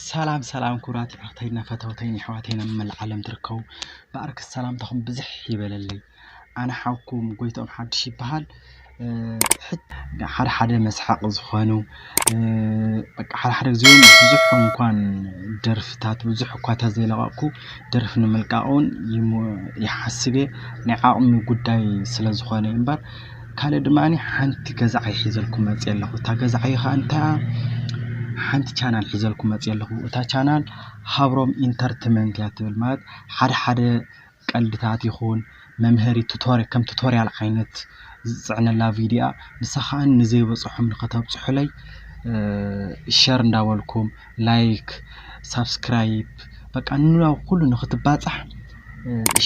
ሰላም ሰላም ክቡራት የዕሩኽተይን ፈተውተይን የሕዋተይን ኣብ መላእ ዓለም ትርከቡ ብኣርክስ ሰላምታኹም ብዝሕ ይበለለይ ኣነ ሓውኩም ጎይትኦም ሓድሽ ይበሃል ሓደ ሓደ መስሓቂ ዝኾኑ በቃ ሓደ ሓደ ግዜ እውን ብዙሕ እንኳን ደርፍታት ብዙሕ እኳ ተዘይለቐቕኩ ደርፊ ንምልቃቕ እውን ይሓስብ እየ ናይ ዓቕሚ ጉዳይ ስለዝኾነ እዩ እምበር ካልእ ድማ ሓንቲ ገዛ ዓይ ሒዘልኩም መፅየ ኣለኹ። እታ ገዛ ዓይ ከዓ እንታይ እያ? ሓንቲ ቻናል ሒዘልኩም መፅየ ኣለኹ። እታ ቻናል ሃብሮም ኢንተርትመንት እያ ትብል ማለት ሓደ ሓደ ቀልድታት ይኹን መምሀሪ ቱቶር ከም ቱቶርያል ዓይነት ዝፅዕነላ ቪድዮ እያ። ንሳ ከዓ ንዘይበፅሖም ንኸተብፅሑለይ ሸር እንዳበልኩም ላይክ ሳብስክራይብ በቃ ንናብ ኩሉ ንክትባጻሕ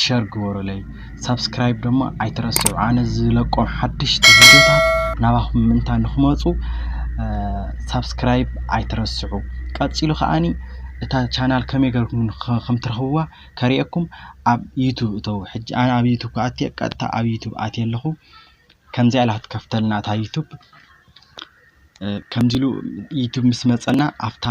ሸር ግበሩለይ ሳብስክራይብ ደሞ ኣይትረስዑ ኣነ ዝለቆም ሓድሽቲ ቪድዮታት ናባኹም ምእንታ ንክመጹ ሳብስክራይብ ኣይትረስዑ ቀጺሉ ከዓኒ እታ ቻናል ከመይ ገርኩም ከም ትረኽብዋ ከርእየኩም ኣብ ዩቱብ እተው ሕጂ ኣነ ኣብ ዩቱብ ክኣትየ ቀጥታ ኣብ ዩቱብ ኣትየ ኣለኹ ከምዚኣ ኢላ ክትከፍተልና እታ ዩቱብ ከምዚ ኢሉ ዩቱብ ምስ መፀና ኣብታ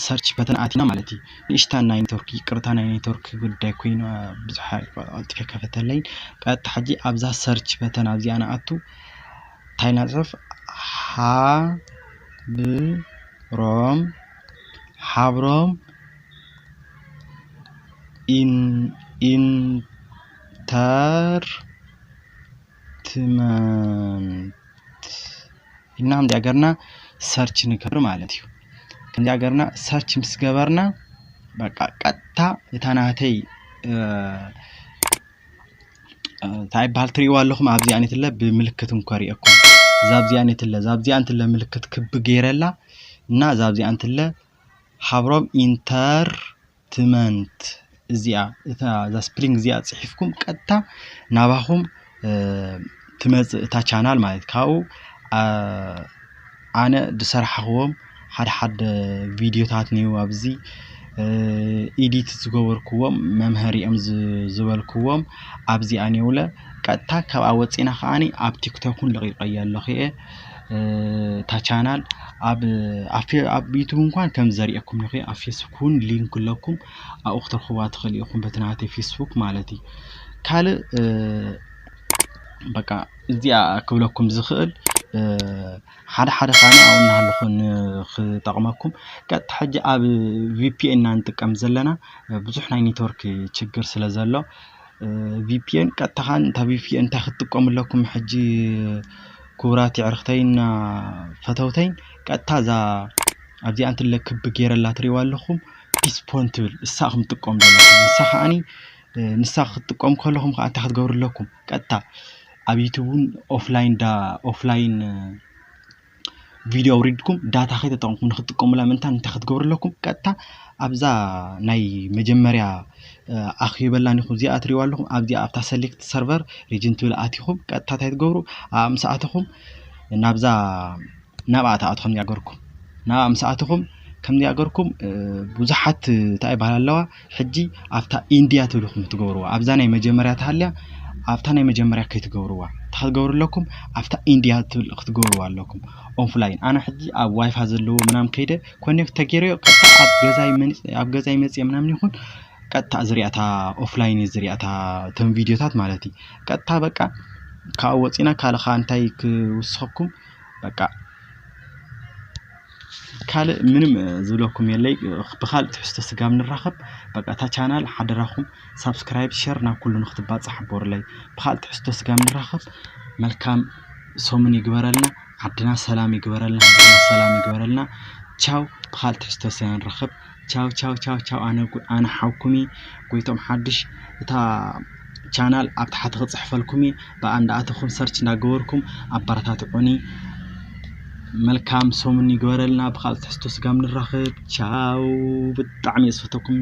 ሰርች በተን ኣቲና ማለት እዩ ንእሽታ ናይ ኔትወርክ ይቅርታ ናይ ኔትወርክ ጉዳይ ኮይኑ ብዙሕ ቀልጢፈ ከፈተለይ ቀጥታ ሕጂ ኣብዛ ሰርች በተን ኣብዚኣ ንኣቱ እንታይ ኢና ንፅሕፍ ሓብሮም ሓብሮም ኢንተር ትመንት ኢልና ከምዚኣ ገርና ሰርች ንገብር ማለት እዩ ከምዚኣ ገርና ሰርች ምስ ገበርና በቃ ቀጥታ እታ ናተይ እንታይ ይበሃል ትሪእዋ ኣለኹም ኣብዚኣ ነትለ ብምልክት እንኳ ሪእኩም ዛብዚኣ ነትለ ዛብዚኣ እንትለ ምልክት ክቢ ገይረላ እና ዛብዚኣ እንትለ ሃብሮም ኢንተር ትመንት እዚኣ እታ እዛ ስፕሪንግ እዚኣ ጽሒፍኩም ቀጥታ ናባኹም ትመጽእ እታ ቻናል ማለት ካብኡ ኣነ ዝሰራሕኽዎም ሓደ ሓደ ቪድዮታት እኒኡ ኣብዚ ኢዲት ዝገበርክዎም መምሀሪ እዮም ዝበልክዎም ኣብዚኣ እኒውለ ቀጥታ ካብኣ ወፂና ከዓኒ ኣብ ቲክቶክን ለቂቀያ ኣለኹ እየ እታ ቻናል ኣብ ዩቱብ እንኳን ከም ዘርእየኩም ኢኹ ኣብ ፌስቡክ እውን ሊንክ ኣለኩም ኣብኡ ክትረኽቡዋ ትኽእሉ ኢኹም በቲ ናተይ ፌስቡክ ማለት እዩ ካልእ በቃ እዚኣ ክብለኩም ዝኽእል ሓደ ሓደ ኻኒ ኣብኡ እናሃለኹ ንኽጠቕመኩም ቀጥታ ሕጂ ኣብ ቪፒኤን ኢና ንጥቀም ዘለና ብዙሕ ናይ ኔትወርክ ችግር ስለ ዘሎ ቪፒኤን ቀጥታ ከዓ እንታ ቪፒኤን እንታይ ክትጥቀሙ ኣለኩም ሕጂ ክቡራት የዕርኽተይና ፈተውተይን ቀጥታ እዛ ኣብዚኣ እንትለ ክቢ ገይረላ ትሪእዋ ኣለኹም ፒስፖን ትብል እሳ እኹም ትጥቀሙ ዘለኹም ንሳ ከዓኒ ንሳ ክትጥቀሙ ከለኹም ከዓ እንታይ ክትገብሩ ኣለኩም ቀጥታ ኣብ ዩቱብ እውን ኦፍላይን ዳ ኦፍላይን ቪድዮ ኣውሪድኩም ዳታ ከይተጠቕምኩም ንክትጥቀሙላ ምእንታን እንታይ ክትገብሩ ኣለኩም ቀጥታ ኣብዛ ናይ መጀመርያ ኣኽዩበላ ኒኹም እዚኣ ትሪእዋ ኣለኹም ኣብዚኣ ኣብታ ሰሌክት ሰርቨር ሪጅን ትብል ኣቲኹም ቀጥታ እንታይ ትገብሩ ኣብኣ ምስ ኣተኹም ናብዛ ናብኣ ትኣቱ ከምዚ ኣገርኩም ናብኣ ምስ ኣተኹም ከምዚ ኣገርኩም ብዙሓት እንታይ ይበሃል ኣለዋ ሕጂ ኣብታ ኢንድያ ትብልኩም ትገብርዋ ኣብዛ ናይ መጀመርያ ተሃልያ ኣብታ ናይ መጀመርያ ከይትገብርዋ እንታይ ክትገብሩ ኣለኩም ኣብታ ኢንድያ ትብል ክትገብርዋ ኣለኩም ኦፍላይን ኣነ ሕጂ ኣብ ዋይፋ ዘለዎ ምናምን ከይደ ኮኔክት ተገይረዮ ቀጥታ ኣብ ገዛይ መን- ኣብ ገዛይ መጽየ ምናምን ይኹን ቀጥታ ዝሪኣታ ኦፍላይን እዩ ዝሪኣታ እቶም ቪድዮታት ማለት እዩ ቀጥታ በቃ ካብኡ ወፂና ካልእ ከዓ እንታይ ክውስኸኩም በቃ ካልእ ምንም ዝብለኩም የለይ ብካልእ ትሕዝቶ ስጋብ ንራከብ በቃ እታ ቻናል ሓደራኩም ሳብስክራይብ ሸር ናብ ኩሉ ንክትባፃሕ ግበሩለይ ብካልእ ትሕዝቶ ስጋብ ንራከብ መልካም ሰሙን ይግበረልና ዓድና ሰላም ይግበረልና ሰላም ይግበረልና ቻው ብካልእ ትሕዝቶ ስጋብ ንራከብ። ቻው ቻው ቻው ቻው ኣነ ኣነ ሓውኩሚ ጎይቶም ሓድሽ እታ ቻናል ኣብ ታሕቲ ክፅሕፈልኩሚ ብኣ እንዳኣተኹም ሰርች እንዳገበርኩም ኣበረታትዑኒ መልካም ሰሙን ይግበረልና ብካልእ ትሕዝቶ ስጋብ ንራኸብ ቻው ብጣዕሚ እየ ዝፈተኩም